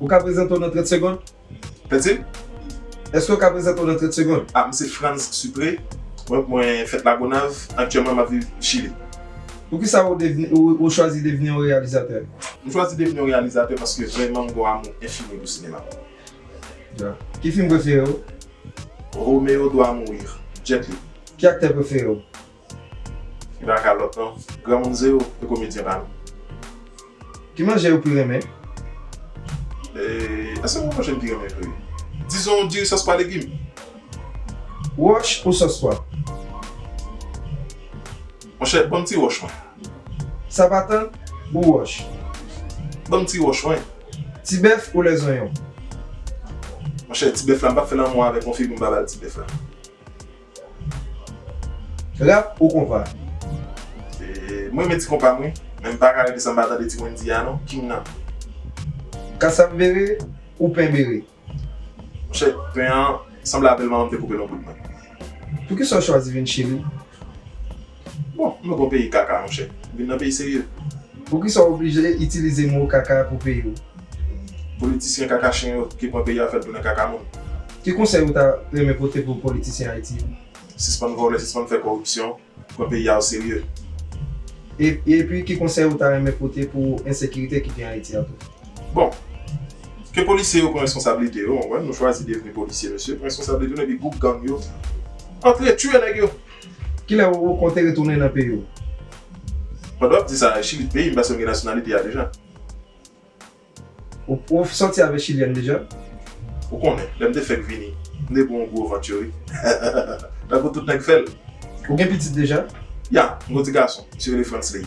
Ou ka prezante w nan 30 segond? Petit, Eske w ka prezante w nan 30 segond? Ah, m se Frantz Sucre. Mwen fèt Lagonav. Aktyèlman m ap viv Chili. Poukisa ou chwazi devni yon reyalizatè? M chwazi devni yon reyalizatè paske vrèman m gen yon amou enfini pou sinema. Dja, Ki fim prefere w? Romeo doit mourir, Jet Li. Ki aktè prefere w? Li pa ka lòt non. Granmoun zero e komedyen pa nou. Ki manje ou pi renmen? Eee eske mwen manje m pi renmen vre? Dizon diri sòs pwa legim. Wòch ou sòs pwa? Monchè banm ti wòch mwen. Sapatan ou wòch? Banm ti wòch mwen. Ti bèf ou lèzonyon? Monchè ti bèf la m pap fè lanmou avèl konfi pou m pa bal ti bèf la. Rap ou konpa? M renmen ti konpa m wi, men m paka rete san m pa tande ti Wendy a non, king nan. Kasap bere ou pen bere? Monchè, pen an sanble avèl manman m te koupe l anpil mwen. Poukisa w chwazi vin Chili? Bon nou gon peyi kaka monchè. Vin nan peyi serye. Poukisa w oblije itilize mo kaka pou peyi w? Politisyen kaka chen yo ki pran peyi a fè l tounen kaka moun. Ki konsèy ou ta renmen pote pou politisyen Ayiti yo? Sispann vòlè, sispann fè kòripsyon, pran peyi a o serye. E epi ki konsèy ou ta renmen pote pou ensekirite ki gen Ayiti a tou? Bon! Ke polisye yo pran reskonsablite yo, mwen wè nou chwazi devni polisye mesye, pran reskonsablite nou epi gwoup gang yo antre tiye nèg yo. Kilè ou konte retounen nan peyi w? Pandan w ap di sa, Chili t peyi m paske m gen nasyonalite a deja. Ou sòti avèk chilyèn deja? Ou konnen, lè m te fèk vini, m te pran yon gwo vant yo wi. Tankou tout nèg fè l. Ou gen pitit deja? Ya, m gon ti gason, li rele Frantzley.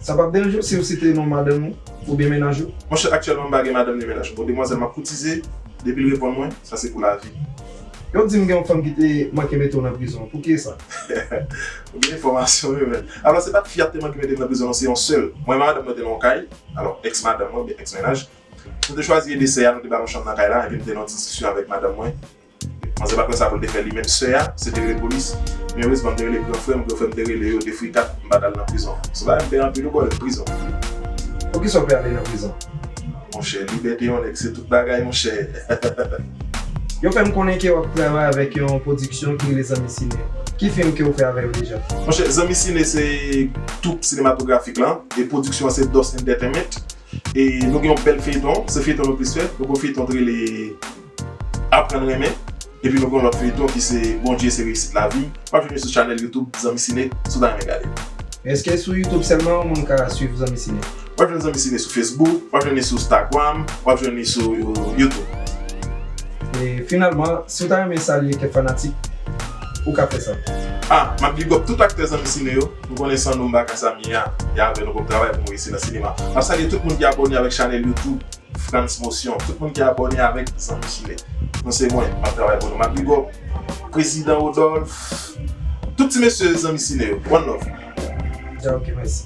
Sa pap deranje w si w site non madanm ou oubyen mennaj ou? Monchè aktyèlman m pa gen madanm ni mennaj. Bon demwazèl m ap koutize, depi l reponn mwen, sa se pou lavi. Yo di m gen yon fanm ki te manke mete w nan prizon an. Pouki e sa? Ou gen enfòmasyon wi menn. Alò se pat fi a ki te manke mete m nan prizon non, se yon sè l. Mwen e madanm mwen te nan yon kay, alò ex madanm mwen oubyen ex mennaj. Nou te chwazi ede sè a, nou te ba l yon chanm nan kay la, epi m te nan yon ti diskisyon avèk madanm mwen. Manzè pa t konn sa pou l te fè li menm sè a se te rele polis men erezman m te rele gran frè m gran frè m te rele yo de frikat m pa t al nan prizon se bagay m pè anpil wi bòy prizon. Poukisa w pè ale nan prizon? Monchè libète yon nèg se tout bagay monchè. Yo fè m konnen ke w ap travay avèk yon pwodiksyon ki rele Zanmi Sine ki fim ke w fè avè yo deja? Monchè Zanmi Sine se twoup sinematografik lan e pwodiksyon an se Dòs Entertainment e nou gen yon bèl feyton se feyton nou plis fè nou gen yon feyton ki rele. Aprann renmen Epi nou gen yon lòt feyton ki se Bondye se reyisit lavi wap jwenn li sou chanèl YouTube Zanmi Ciné si w ta renmen gade l. Eske sou YouTube selman moun ka swiv zanmi ciné? Wap jwenn zanmi ciné sou Facebook, wap jwenn li sou Stagram, wap jwenn li sou YouTube. E finalman si w ta renmen salye kèk fanatik ou ka fè sa. A, map big up tout aktè zanmi ciné yo, m konnen san nou m pa ka sa m ye a, e avè nou pou m travay pou m reyisi nan sinema. Map salye tout moun ki abòne avèk chanèl YouTube. Frantz Motion tout moun ki abòne avèk zanmi chile nou se mwen map travay pou nou map big up prezidan Rodolphe tout ti mesye zanmi chile yo one love. Ok mèsi.